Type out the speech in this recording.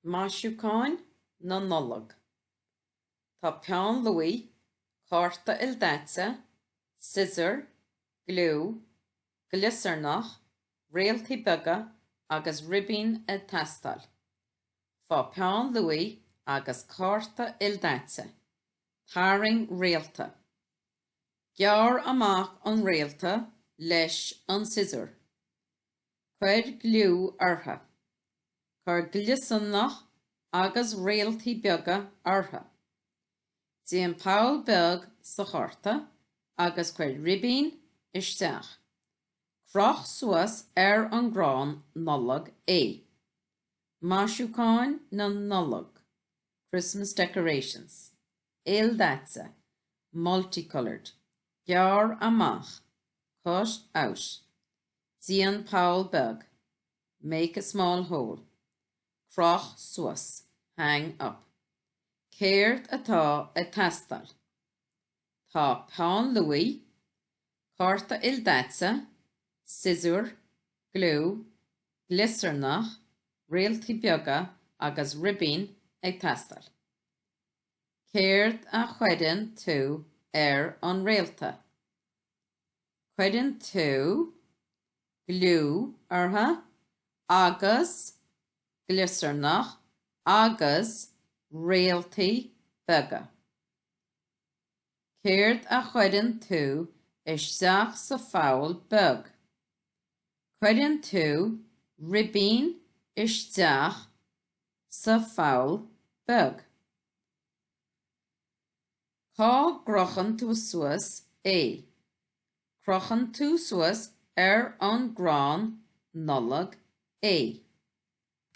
Maisiúcháin na Nollag Tá peann luaí, cárta ildaite, siosúr, gliú, gliosarnach, réaltaí beaga agus ribín ag teastáil. Faigh peann luaí agus cárta ildaite. Tarraing réalta. Gearr amach an réalta leis an siosúr. cuir gliú orthu, cuir gliosarnach agus réaltaí beaga orthu, déan poll beag sa chárta agus cuir ribín isteach, croch suas ar an gcrann Nollag é. Maisiúcháin na Nollag, Christmas decorations, ildaite, multicoloured, gearr amach, cut out, Déan poll beag, make a small hole. Croch suas, hang up. Céard atá ag teastáil? Tá peann luaí, cárta ildaite, siosúr, gliú, gliosarnach, réaltaí beaga agus ribín ag teastáil. Céard a chuireann tú ar an réalta? cuireann tú gliú orthu agus gliosarnach agus réaltaí beaga. Céard a chuireann tú isteach sa pholl beag? Cuireann tú ribín isteach sa pholl beag. Cá gcrochann tú suas é? Crochann tú suas ar an gcrann Nollag é.